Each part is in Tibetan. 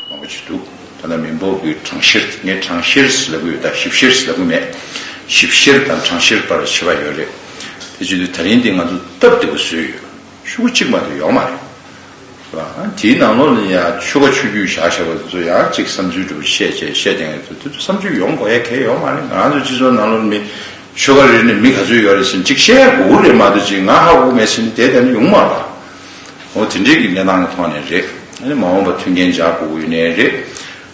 མང་པོ་བྱས་འདུག་ཐ་ན་མི་འབོར་གྱི་གྲངས་བཤེར་དེ་ནི་གྲངས་བཤེར་ཟེར་ལབ་ཀྱི་ཡོད་ད་ཞིབ་བཤེར་ཟེར་ལབ་ཀྱི་མེད། ཞིབ་བཤེར་དང་གྲངས་བཤེར་བར་ཕྱེད་པ་ཡོད་རེད། དེ་བརྗོད་དུས་ད་རིང་འདི་ང་ཚོ་སྟབས་བདེ་བོ་བཟོས་ཡོད། ཆུ་འགོ་གཅིག་མ་གཏོགས་ཡོག་མ་རེད། ཟེར་བ། དེའི་ནང་ལོགས་ནས་ཡང་ཆུ་ཁ་ཆུ་རྒྱུས་བཞག་བཞག་པ་དེ་ཚོ་ཡང་གཅིག་བསམ་ཚུལ་འགྲོ་བཞེད་བྱས་བཤད་བསྟན་ཡོད་དེ་ཚོ་བསམ་ཚུལ་ཡོང་དགོས་ཡ་གལ་ཡོག་མ་རེད་ང་ཚོ་སྤྱི་ཚོགས་ནང་ལོགས་ནས་མི་ཆོལ་ཁ་རེ་ནས་མི་ག་ཚོད་ཡོད་རེད་བཞིན་གཅིག་བཤད་དགུ་བོ་རེད་མ་འདོད་ཅིག་ང་ཧ་གོ་མེད་བཞིན་དེ་ལྟར་ཡོང་མ་ལགས། ཨོ་དེ་འདྲས་ཀྱི་གནས་སྟངས་ཀྱི་ཐོག་ནས་རེད། ཨ་ནི་མ་འོངས་པ་མཐུན་རྐྱེན་སྦྱར་དགོས་དགོས་ཡིན་ནའི་རེད།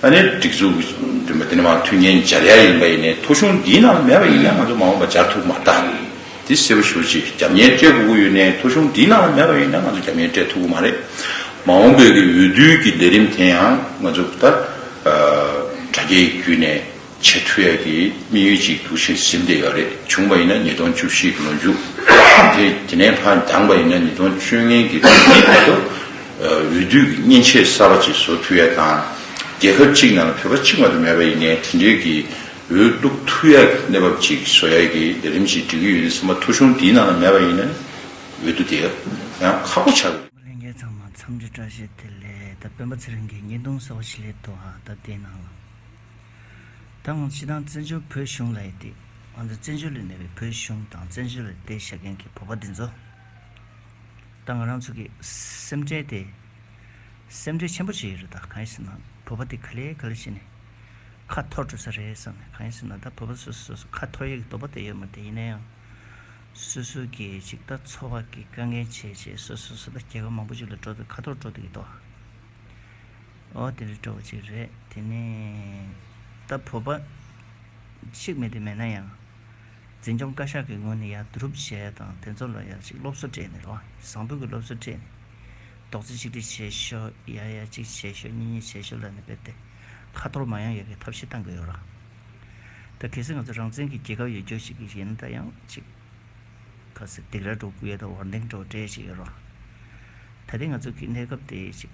ཨ་ནི་སྒྲིག་འཛུགས་ཀྱི་མདུན་པ་དེ་ནི་མ་མཐུན་རྐྱེན་སྦྱར་ཡ་ཡིན་པ་ཡིན་ནའི་ཐོ་གཞུང་འདིའི་ནང་ལ་མེད་པ་ཡིན་ན་ང་ཚོ་མ་འོངས་པ་སྦྱར་ཐུབ་མ་ད། འདི་གསལ་པོ་ཞུ་ཅིག་རྒྱབ་གཉེར་སྤྲད་དགོས་དགོས་ཡོད་ནའི་ཐོ་གཞུང་འདིའི་ནང་ལ་མེད་པ་ཡིན་ན་ང་ཚོ་རྒྱབ་གཉེར་སྤྲད་ཐུབ་དགོས་མ་རེད། མ་འོངས་བོད་ཀྱི་འོས་བསྡུའི་ཀྱི་ལས་རིམ་དེ་ཡང་ང་ཚོ་ད་དྲ་རྒྱའི་བརྒྱུད་ནས་ཆེས་མཐོ་ཡ་གི་དམིགས་ཡུལ་གཅིག་འདུག་ཆེས་ཟིན་བདེ་ཡ་རེད་བྱུང་བ་ཡིན་ན་ཉིས་སྟོང་བཅུ་བཞི་གི་ལོ་མཇུག་དེ་དེ་ནས་ཕར་འགྱངས་པ་ཡིན་ན་ཉིས་སྟོང་བཅུ་ལྔན་གི་ལོ་ཉིས་བར་དུ་འོས་བསྡུ་གི་མཉེན་ཆས་གསར་པ་གཅིག་བཟོ་ཐུབ་ཡ་དང། རྒྱལ་ཁབ་གཅིག་ནང་ལ་བོད་པ་གཅིག་མ་གཏོགས་མེད་པ་ཡིན་ནའི་དེ་འབྲེལ་གི་འོས་བླུགས་ཐུབ་ཡ་གི་གནས་བབ་གཅིག་བཟོ་ཡ་གི་ལས་རིམ་གཅིག་སྒྲིག་གི་ཡོད་ནའི་ཚང་མ་ཐོ་གཞུང་འདིའི་ནང་ལ་མེད་པ་ཡིན་ན་འོས་བསྡུ་དེ་ཡང་ཁག་པོ་བྱ་དགོས། མི་ལས་འགལ་ཚང་མ་འཚམས་འདྲི་བཀྲ་ཤིས་བདེ་ལེགས་ད་སྤེན་པ་ཚེ་རིང་གིས་ཉིས་སྟོང་སོ་བཞི་ལོའི་ཐོག་ཧ་ད་དེའི་ནང་ལ། ད་ངོ་ཕྱི་དང་བཙན་བྱོལ་བོད་གཞུང་ལ་ཡི་དེད། ང་ཚོ་བཙན་བྱོལ་ལས་གནས་པའི་བོད་གཞུང་དང་བཙན་བྱོལ་ལ་ཡི་དེད་བྱ་མཁན་གྱི་བོད་པ་འདི་ཚོ། ད་ང་རང་ཚོ་གི་སེམས་ཁྲལ་དེ། སེམས་ཁྲལ་ཆེན་པོ་བྱེད་ཡི་རེད་ད་གང་ཡིན་ཟེར་ན་བོད་པ་དེ་ག་ལེ་ག་ལེ་བྱེད་ནས། ཁ་འཐོར་འགྲོ་ས་རེད་བསམ་ནས་གང་ཡིན་ཟེར་ན་ད་བོད་པ་སོ་སོས་སོ་སོ་ཁ་འཐོར་ཡས་ཀྱི་དོགས་པ་དེ་ཡོད་མོད་དེ་ཡིན་ན་ཡང། སོ་སོ་གས་ཅིག་ད་འཚོ་བ་གི་དཀའ་ངལ་བྱས་བྱས་སོ་སོས་སོ་ད་རྒྱལ་ཁབ་མང་པོ་ཅིག་ལ་འགྲོ་འདོད་ཁ་འཐོར་འགྲོ་འདོད་ཀྱི་དོགས། ཨོ་དེ་རི་གྲོགས་ཅིག་རེད་དེ་ནི། ད་བོད་པ། ཤིག་མི་དེ་མེད་ན་ཡང། འཛིན་སྐྱོང་བཀའ་ཤག་གི་ངོས་ནས་ཡར་བསྡུ་རུབ་བྱས་དང་དེ་ཚོ་ལ་ཡར་ཅིག་སློབ་གསོ་སྤྲད་ནས་ལོ་བཟང་པོའི་གི་སློབ་གསོ་སྤྲད་ནས། རྡོག་རྩེ་གཅིག་སྒྲིལ་བྱེད་ཤོག་ཡར་ཡར་ཅིག་བྱེད་ཤོག་གཉིས་གཉིས་བྱེད་ཤོག་ལ་ནི་བེད་དེ། ཁ་ཐོར་མ་ཡོང་ཡ་གི་ཐབས་ཤེས་གཏང་གི་ཡོད་རང། ད་གལ་སྲིད་ང་ཚོ་རང་བཙན་གི་རྒྱལ་ཁབ་ཡོད་རྒྱུ་ཞིག་ཡིན་ད་ཡང་ཅིག། གལ་སྲིད་སྡིག་ར་སྒྲོག་གི་ཡོད་ད་བར་འདེང་སྒྲོག་སྤྲད་ཅིག་ཡོད་རང། ད་ལྟའི་ང་ཚོ་གི་གནས་སྐབས་དེ་ཅིག།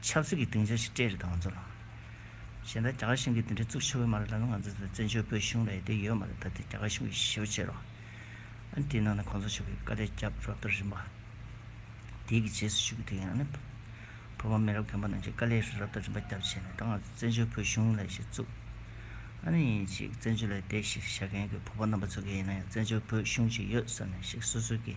ཆབ་སྲིད་ཀྱི་སྡིངས་ཆ་ཞིག་སྤྲད་རེ་དང་ང་ཚོ་ལ། གཞན་ད་རྒྱ་གར་གཞུང་གིས་དེ་འདྲའི་གཙུག་ཆེ་བོའི་མ་རེད་ད་ནི་ང་ཚོ་དེ་བཙན་བྱོལ་བོད་གཞུང་ལ་ཡི་དེ་ཡོད་མ་རེད་ད་དེ་རྒྱ་གར་གཞུང་གིས་ཞེ་བོ་བྱེད་རོགས། དེའི་ནང་ནས་གོང་ས་མཆོག་གིས་བཀའ་ལས་རྒྱབ་རོགས་ཏོ་རིམ་པ། དེའི་གི་རྗེས་སུ་ཞུ་གི་དེ་ཡང་ནི། བོད་པ་མི་རབས་རྒན་པ་རྣམས་ཀྱིས་བཀའ་ལས་རོགས་ཏོ་རིམ་པ་རྒྱབ་བྱས་ནས་ད་ང་ཚོ་བཙན་བྱོལ་བོད་གཞུང་ལ་ཞིག་བཙུགས། ཨ་ནི་ཡིན་ཅིག་བཙན་བྱོལ་ལ་ཡི་དེ་ཞིག་བྱ་མཁན་གྱི་བོད་པ་རྣམ་པ་ཚོ་ག་ཡིན་ན་ཡང་བཙན་བྱོལ་བོད་གཞུང་ཅིག་ཡོད་བསམ་ནས་ཞིག་སོ་སོའི་གི།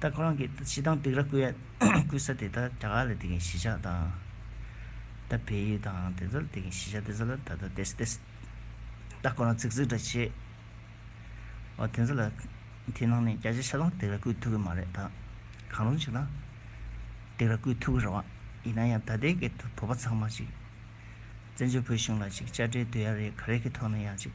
ད་ཁོ་རང་གི་ད་ཕྱི་དང་ཏིག་ར་བརྐོས་ཡ་བརྐོས་ས་དེ་ད་དྲ་ག་ལ་དེ་གིན་གཞིས་ཆགས་དང། ད་བལ་ཡུལ་དང་དེ་ཚོ་ལ་དེ་གིན་གཞིས་ཆགས་དེ་ཚོ་ལ་ད་ད་བལྟས་སུ་བལྟས་སུ་ད་ཁོ་རང་ཚིག་ཚིག་འདྲ་བྱེད། འོ་དེ་ཚོ་ལ་དེ་ནང་ནས་རྒྱ་ཆ་ཆ་དང་ཏིག་ར་བརྐོས་ཐུབ་ཀི་མ་རེད་ད། གང་རུང་ཞིག་ན་ཏིག་ར་བརྐོས་ཐུབ་ཀི་རེད་བ། ཡིན་ན་ཡང་ད་ལྟའི་གི་བོད་པ་ཚང་མ་ཅིག་བཙན་བྱོལ་བོད་གཞུང་ལ་ཅིག་དཔྱ་ཁྲལ་སྡོད་ཡ་རེད་ག་རེ་གི་ཐོག་ནས་ཡང་ཅིག།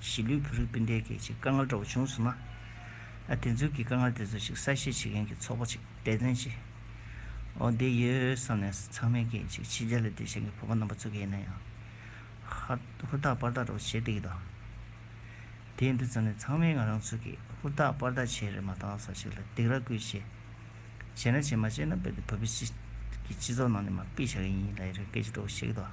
གཞིས་ལུས་བོད་རིགས་སྤུན་ཟླའི་སྐད་ཆའི་དཀའ་ངལ་འདྲ་བོ་བྱུང་ཚུལ་ན། དེ་ཚོའི་གི་དཀའ་ངལ་དེ་ཚོ་ཞིག་གསལ་བཤད་བྱེད་མཁན་གྱི་ཚོགས་པ་ཅིག་འབད་བརྩོན་བྱས་འོ་དེ་ཡོད་བསམ་ནས་ཚང་མའི་སྐད་ཅིག་ཕྱི་རྒྱལ་ལ་བསྡད་བཞིན་གྱི་བོད་པ་རྣམ་པ་ཚོའི་སྐད་ཡིན་ན་ཡང། ཧུར་ཐག་པར་ཐག་འདྲ་བོ་བྱེད་བསྡད་ཀྱི་འདུག་དེ་འདི་ཙམ་ནས་ཚང་མས་ང་རང་ཚོས་གིས་ཧུར་ཐག་པར་ཐག་བྱས་རེད་མ་གཏང་ས་ཞིག་ལ་སྡིགས་ར་བསྐུལ་བྱས། བྱས་ན་བྱས་མ་བྱས་ན་རྦད་དེ་བོད་པའི་སྤྱི་ཚོགས་ནང་ནས་མ་དཔེ་བྱ་གི་ཡིན་ལ་ཡི་རང་སྐད་ཅིག་འདྲ་བོ་བཤད་ཀྱི་འདུག།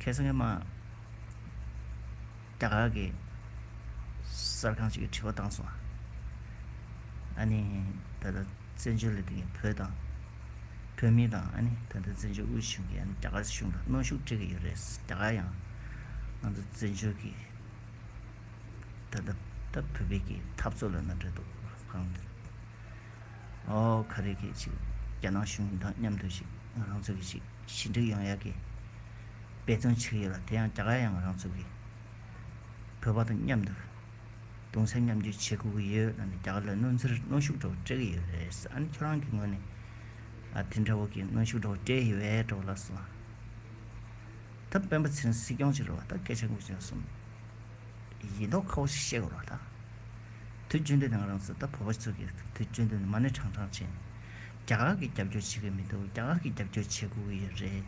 ཁེ་སང་ངེ་མ། རྒྱ་གར་གྱི་གསར་ཁང་ཞིག་གིས་དྲི་བ་བཏང་སོང། ཨ་ནི་ད་ལྟ་བཙན་བྱོལ་ལ་འདི་གའི་བོད་དང། བོད་མི་དང་ཨ་ནི་ད་ལྟ་བཙན་བྱོལ་དབུས་གཞུང་གིས་ཨ་ནི་རྒྱ་གར་གཞུང་དང་གནོན་ཤུགས་སྤྲད་ཀྱི་ཡོད་རེད། རྒྱ་གར་ཡང་ང་ཚོ་བཙན་བྱོལ་གྱི་ད་ལྟ་ད་བོད་པའི་གི་འཐབ་རྩོད་ལ་ན་འདྲེ་འདུག་གང། ཨོ་ག་རེ་གི་ཅིག་རྒྱ་ནག་གཞུང་དང་མཉམ་དུ་ཞིག་ང་རང་ཚོ་གི་ཞིག། ཞི་འགྲིག་ཡོང་ཡག་གི་དཔེ་མཚོན་ཆིག་ཡོད་ལ་དེ་ཡང་རྒྱ་གར་ཡང་རང་ཚུགས་ཀྱིས་བོད་པ་དང་མཉམ་དུ་གདུང་སེམས་མཉམ་བསྐྱེད་བྱེད་དགོས་ཀྱི་ཡོད་ལ་ནི་རྒྱ་གར་ལ་གནོན་འཚེར་གནོན་ཤུགས་འདྲ་བོ་སྤྲད་ཀྱི་ཡོད་རེད་ཨ་ནི་ཁྱོད་རང་གི་ངོས་ནས་དེ་འདྲ་བོ་གི་གནོན་ཤུགས་འདྲ་བོ་སྤྲད་ཡོད་འདྲ་བོ་ལགས་སོ། ད་སྤེན་པ་ཚེ་རིང་སྲིད་སྐྱོང་ཅིག་རེད་བ་ད་སྐད་ཆ་འགུག་ཅིང་གསུང། ཡིན་མདོག་ཁ་བོ་ཞིག་བཤད་དགོས་རོགས་ད། དུས་རྒྱུན་དུ་ནི་ང་རང་ཚོ་ད་བོད་པ་ཚོ་གི་དུས་རྒྱུན་དུ་ནི་མ་ཎི་གྲང་གྲང་བྱེད། རྒྱ་གར་གྱིས་རྒྱབ་སྐྱོར་བྱེད་གི་མི་འདུག་རྒྱ་གར་གྱིས་རྒྱབ་སྐྱོར་བྱེད་དགོས་ཀྱི་ཡོད་རེད།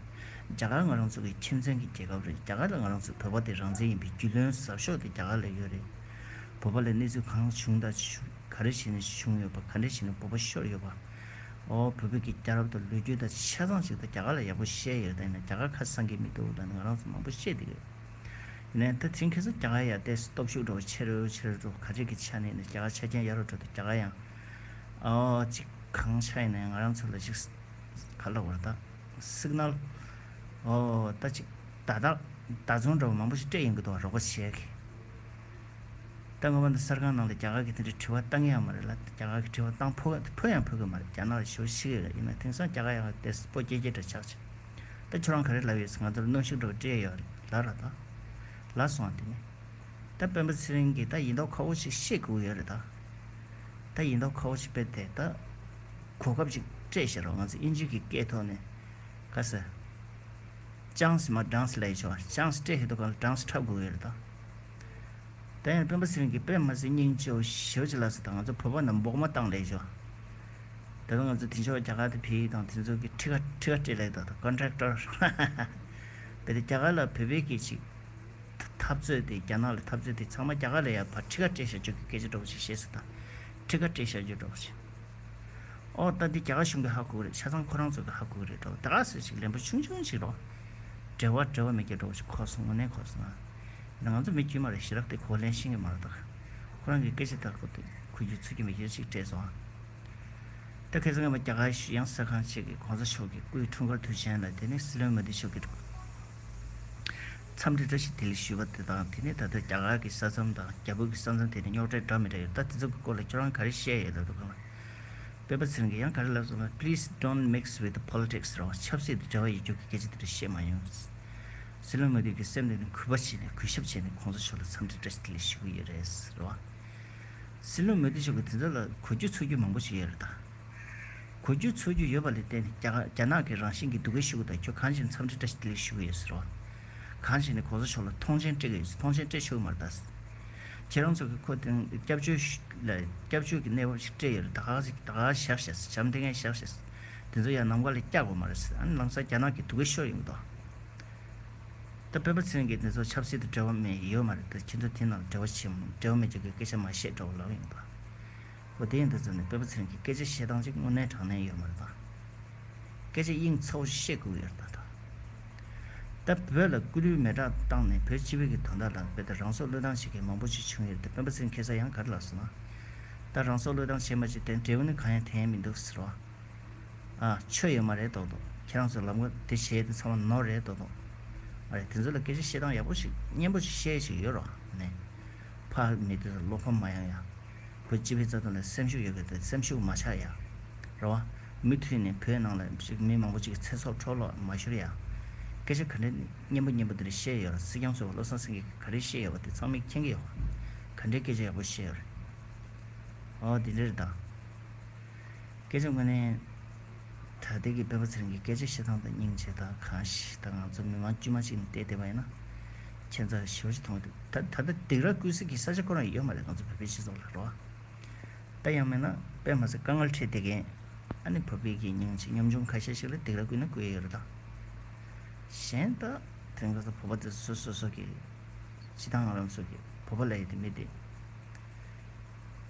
རྒྱ་གར་ང་རང་ཚོ་གི་ཁྱིམ་མཚན་གྱི་རྒྱལ་ཁབ་རེད་རྒྱ་གར་ལ་ང་རང་ཚོའི་བོད་པ་དེ་རང་བཙན་ཡིན་པའི་རྒྱུས་ལོན་ཟབ་ཤོག་དེ་རྒྱ་གར་ལ་ཡོད་རེད། བོད་པ་ལ་གནས་ཚུལ་གང་བྱུང་དང་ག་རེ་བྱས་ནས་བྱུང་ཡོད་པ་ག་འདྲས་བྱས་ནས་བོད་པ་ཤོར་ཡོད་པ། ཨོ་བོད་བོད་ཀྱི་རྒྱལ་རབས་དང་ལོས་རྒྱུས་དང་ཆ་ཚང་ཞིག་དང་རྒྱ་གར་ལ་ཡག་པོ་བཤད་ཡོད་ད་ཡིན་ན་རྒྱ་གར་ཁ་བསང་གི་མི་འདུག་ད་ནི་ང་རང་ཚོ་མང་པོ་བཤད་དེ་ཡོད། ཡིན་ན་ཡང་ད་དེང་ཁྱེད་ཚོ་རྒྱ་གར་ཡར་བལྟས་སོ་སྟོབས་ཤུགས་འགྲོ་བ་ཆེ་རུ་ཆེ་རུ་འགྲོ་ག་རེ་གི་ཆ་ནས་ཡིན་ན་རྒྱ་གར་ཆ་རྐྱེན་ཡག་རུ་འགྲོ་དང་རྒྱ་གར་ཡང། གཅིག་གང་ཆ་ཡིན་ནའི་ང་རང་ཚོ་ལ་ཞིག་ཕར་ལོག་བར་དག་སིག་ནལ་ད་ཅིག་ད་དག་ད་རྫོང་འདྲ་བོ་མང་པོ་ཞིག་སྤྲད་ཡོང་གི་འདུག་རོགས་པ་བྱས་གི། ད་ང་བ་འདི་གསར་ཁང་ནང་ལ་རྒྱ་གར་གི་དེ་འདྲའི་དྲི་བ་བཏང་གི་ཡང་མ་རེད་ལ་རྒྱ་གར་གི་དྲི་བ་བཏང་ཕོ་ཕོ་ཡང་ཕོ་གི་མ་རེད་རྒྱ་ནག་ལ་ཞོ་ཤི་གི་རེད་ཡིན་ན་དེང་སང་རྒྱ་གར་ཡང་ལ་དེས་སྤོ་སྐྱེལ་སྐྱེལ་འདྲ་ཆགས་ཆེ། ད་ཁྱོད་རང་ག་རེ་ལབ་ཡོད་ཟེར་ང་ཚོ་ལ་གནོན་ཤུགས་འདྲ་བོ་སྤྲད་ཡོད་རེད་ལབ་ར་དག་ལ་སོང་དེ་ནས། ད་སྤེན་པ་ཚེ་རིང་གིས་ད་ཡིན་མདོག་ཁ་བོ་ཞིག་བཤད་དགོས་ཀྱི་ཡོད་རེད་ད། ད་ཡིན་མདོག་ཁ་བོ་ཆེ་དཔེར་དེ་ད་གོ་སྐབས་ཅིག་སྤྲད་ཤེས་རོགས་ང་ཚོ་ཨིན་ཇིའི་གི་སྐད་ཐོག་ནས་ག་ས་ཅང་སི་མ་སྦྲང་སི་ལས་ཆོག་ཅང་སི་སྤྲད་ཤེས་མདོག་ག་ལ་སྦྲང་སི་འཁྲབ་དགོས་ཡོད་རེད་ད། ད་ཡང་སྤེན་པ་ཚེ་རིང་གི་དཔེ་མ་ཟད་སྙིང་རྗེ་བོ་ཞེ་བོ་ཆེ་ལགས་སུ་དང་ང་ཚོ་བོད་པ་རྣམས་འབོག་མ་བཏང་ལས་ཆོག་ད་ལོ་ང་ཚོ་དེ་འབྱོར་བ་རྒྱ་གར་དུ་བེད་ཡིག་དང་དེ་ཚོ་གི་ཁྲི་ཁ་ཁྲི་ཁ་སྤྲད་ལས་ད་ད Contractor ཧཧཧཧཧ་བེད་དེ་རྒྱ་གར་ལ་བོད་པའི་གི་ཅིག། འཐབ་རྩོད་དེ་རྒྱ་ནག་ལ་འཐབ་རྩོད་དེ་ཚང་མ་རྒྱ་གར་ལ་ཡར་ཕར་ཁྲི་ཁ་སྤྲད་བཞག་རྒྱུ་གི་སྐད་ཆ་སྒྲོག་བཞིན་ཤེས་གསལ་དང། ཁྲི་ཁ་སྤྲད་བཞག་རྒྱུ་སྒྲོག་བཞིན། ཨོ། ད་འདི་རྒྱ་གར་གཞུང་གི་ཧ་གོ་གི་རེད་ཆ་ཚང་ཁོ་རང་ཚོ་གི་ཧ་གོ་གི་རེད་དོ། ད་ག་ཟེར་ཞིག་ལན་པོ་ཆུང་ཆུང་ཞིག་རོགས། བྲེལ་བ་བྲེལ་བ་མེད་ཀྱི་སྒྲོག་བཞིན་ཁོ་སོང་ངོ་ནས་ཁོ་སོང་ཨ། ད་ང་ཚོ་མི་དཀྱུས་མ་རེ་ཞི་རག་སྟེ་ཁོ་ལན་ཤིང་གི་མ་རེ་དག། ཁོ་རང་གི་སྐད་ཆ་དག་གོ་དེ་གོ་རྒྱུ་ཚོད་ཀྱི་མི་ཡོད་ཅིག་སྤྲད་སོང་ཨ། ད་གལ་སྲིད་ངེད་མ་རྒྱ་གར་གཞུ་དབྱངས་གསར་ཁང་བཅས་ཀྱི་གོང་ས་མཆོག་གི་སྐུའི་འཁྲུངས་སྐར་དུས་ཆེན་ལ་དེ་ནས་སྲིད་བློན་མོ་དི་མཆོག་གི། མཚམས་རེ་བཀྲ་ཤིས་བདེ་ལེགས་ཞུས་པ་དེ་དང་དེ་ནས་ད་ལྟ་རྒྱ་གར་གྱི་ས་མཚམས་དང་རྒྱ་བོད་ཀྱི་ས་མཚམས་དེ་ནི་རྙོག་དྲའི་འདྲ་མི་འདྲ་ཡོད་ད་དེ་ཚོ་གི་སྐོར་ལ་ཁྱོད་རང་ག་རེ་བཤད་ཡོད་ད་དུ་གང་ལ་དཔེ་པ་ཚིར་འགས་ཡང་ག་རེ་ལབ་སོང་ལ please don't mix with politics རང་ཆབ་སྲིད་དུ་འབྲེལ་བ་ཡོད་རྒྱུ་གི་སྐད་ཆ་དེ་འདྲ་བཤད་མ་ཡོང། སྲིད་བློན་མོ་དྷི་གི་སེམས་དེ་ནི་གུས་པ་བྱས་ནས་གུས་ཞབས་བྱས་ནས་ཁོང་ཚོ་མཆོག་ལ་མཚམས་རེ་བཀྲ་ཤིས་བདེ་ལེགས་ཞུ་གི་ཡོད་རེད། སྲིད་བློན་མོ་དྷི་མཆོག་གིས་དེ་ཚོ་ལ་གོ་རྒྱུ་ཚུགས་རྒྱུ་མང་པོ་ཞིག་ཡོད་རེད་ད། གོ་རྒྱུ་འཚོལ་རྒྱུ་ཡོད་པ་ལས་བརྟེན་རྒྱ་ནག་གི་རང་བཞིན་གྱི་སྡུག་སྐད་ཤོད་གི་དང་ཁྱོད་གང་བྱས་ནས་འཚམས་འདྲི་བཀྲ་ཤིས་བདེ་ལེགས་ཞུ་གི་ཡོད་ཟེར་བ། གང་བྱས་ནས་གོང་ས་མཆོག་ལ་ཐོངས་མཆན་སྤྲད་གི་ཡོད་ཟེར་ཐོངས་མཆན་སྤྲད་ཆོག་གི་མ་རེད་ད། ཁྱེད་རང་ཚོ་གི་ཁོ་དེ་སྐྱབས་བཅོལ་ལ་སྐྱབས་བཅོལ་གྱི་གནས་བབ་ཞིག་སྤྲད་ཡོད་རེད་ད་ག་ག་ད་ག་ག་ཞག་བཤད་ཟེར་བྱམས་ལྡན་ངས་ཞག་བཤད་ཟེར་དེ་ཚོ་ཡང་ནམ་མཁའ་ལས་བཀྱག་དགོས་མ་རེད་ཟེར་ཨ་ནི་ལང་ཚོ་རྒྱ་ནག་གི་སྡུག་སྐད་ཤོད་ཡོད་མི་འདུག་ཨ། ད་བོད་པ་ཚོས་འགན་དེ་ཚོ་ཆབ་སྲིད་དུ་འབྲེལ་བ་མེད་ཡོད་མ་རེད་ད་ཁྱེད་ཚོ་དེ་རྣམས་འབྲེལ་བ་བྱེད་མི་འབྲེལ་བ་མེད་ཅོག་གི་སྐད་ཆ་མ་བཤད་འདྲ་བོ་ལབ་ཡོང་གི་འདུག་ཨ། པོ་དེའི་འདི་ཙམ་ནས་དཔེ་པོ་ཚུན་གྱིས་སྐད་ཆ་བཤད་སྟངས་ཅིག་དངོས་གནས་དྲང་གནས་ཡོད་མ་རེད་དམ། སྐད་ཆ་དབྱིངས་ཚ་བོ་ཞིག་བཤད་དགོས་ཀྱི་ཡོད་རེད་ད། ད་བོད་ལ་སྐུ་ལུས་མེ་བསྒྲགས་བཏང་ནས་བོད་སྤྱི་བོད་ཀྱི་དོན་དག་ལ་དཔེ་ལྟ་རང་སྲོག་བློས་བཏང་བྱེད་མཁན་མང་པོ་ཞིག་བྱུང་ཡོད་རེད་དེ་དཔོན་པོ་ཚུན་ཁྱེད་ཚོ་ཡང་ག་རེ་ལབ་སོང་ན། ད་རང་སྲོག་བློས་བཏང་བྱེད་མ་བྱེད་དེ་འབྲས་བུ་ནི་གང་ཡང་དེ་ཡིན་མི་འདུག་ཟེར་བ། ཨ། ཆོས་ཡོད་མ་རེད་དོགས་དོགས་ཁྱེད་རང་ཚོས་ལབ་མགོ་དེ་བྱས་དེ་ཚང་མ་ནོར་རེད་དོགས་དོགས། མ་རེད་དེ་ཚོ་ལ་སྐད་ཆ་བཤད་སྟངས་ཡག་པོ་ཞིག་སྙན་པོ་ཞིག་བཤད་ཡ་ཞིག་ཡོད་རོགས་གནས། ཕ། མི་དེ་ཚོ་བློ་ཕམ་མ་ཡོང་ཡ། བོད་སྤྱི་པའི་རྩ་དོན་ལ་སེམས་ཤུགས་ཡོད་དགོས་ཏེ་སེམས་ཤུགས་མ་ཆག་ཡ། རེད་བ། མུ་མཐུད་ནས་བོད་ནང་ལ་ཞིག་མི་མང་པོ་ཅིག་གི་ཚེ་སྲོག་འཕྲོ་བརླག་མ་ཤོར་ཡ། སྐད་ཆ་ག་འདྲའི་སྙན་པོ་སྙན་པོ་འདིར་བཤད་ཡོད་ར་སྲིད་སྐྱོང་ཚོས་བ་བློ་བཟང་སེང་གེ་ག་རེ་བཤད་ཡོད་བ་དེ་ཚང་མི་མཁྱེན་གི་ཡོད་བ། ག་འདྲའི་སྐད་ཆ་ཡག་པོ་བཤད་ཡོད་རེད། འོ་དེ་འདྲ་རེད་ད། སྐད་ཆ་དངོས་ནི། ད་ལྟའི་གི་བོད་པ་ཚེ་རིང་གི་སྐད་ཆ་བཤད་སྟངས་དང་སྙིང་རྗེ་དང་གང་ཞིག་དང་ང་ཚོ་མི་མང་དཀྱུས་མ་ཅིག་ནས་བལྟས་བསྡད་པ་ཡིན་ན། ཁྱེད་ཚོ་ཞི་བ་ཞིག་མཐོང་གི་འདུག་ད་ད་ལྟ་སྡིག་ར་སྐུལ་སྲིད་ཀྱི་ས་ཆ་ཁོ་རང་ཡོད་མ་རེད་ང་ཚོ་བོད་པའི་སྤྱི་ཚོགས་ལ་རོ། ད་ཡང་མེད་ན་པད་མ་ཚེ་དཀར་ངར་ཁྲིད་བསྡད་མཁན། ཨ་ནི་བོད་པའི་གི་སྙིང་རྗེ་གཉོམ་ཆུང་ཁ་ཤས་ཤིག་ལ་སྡིག་ར་སྐུལ་ན་སྐུལ་ཡ་ཡོད་རེད་ད། གཞན་ད་དེང་གི་ཚོ་བོད་པ་དེ་ཚོ་སོ་སོ་གི་སྤྱི་དང་ང་རང་ཚོ་གི་བོད་པ་ལ་ཡོད་དེ་མེད་དེ།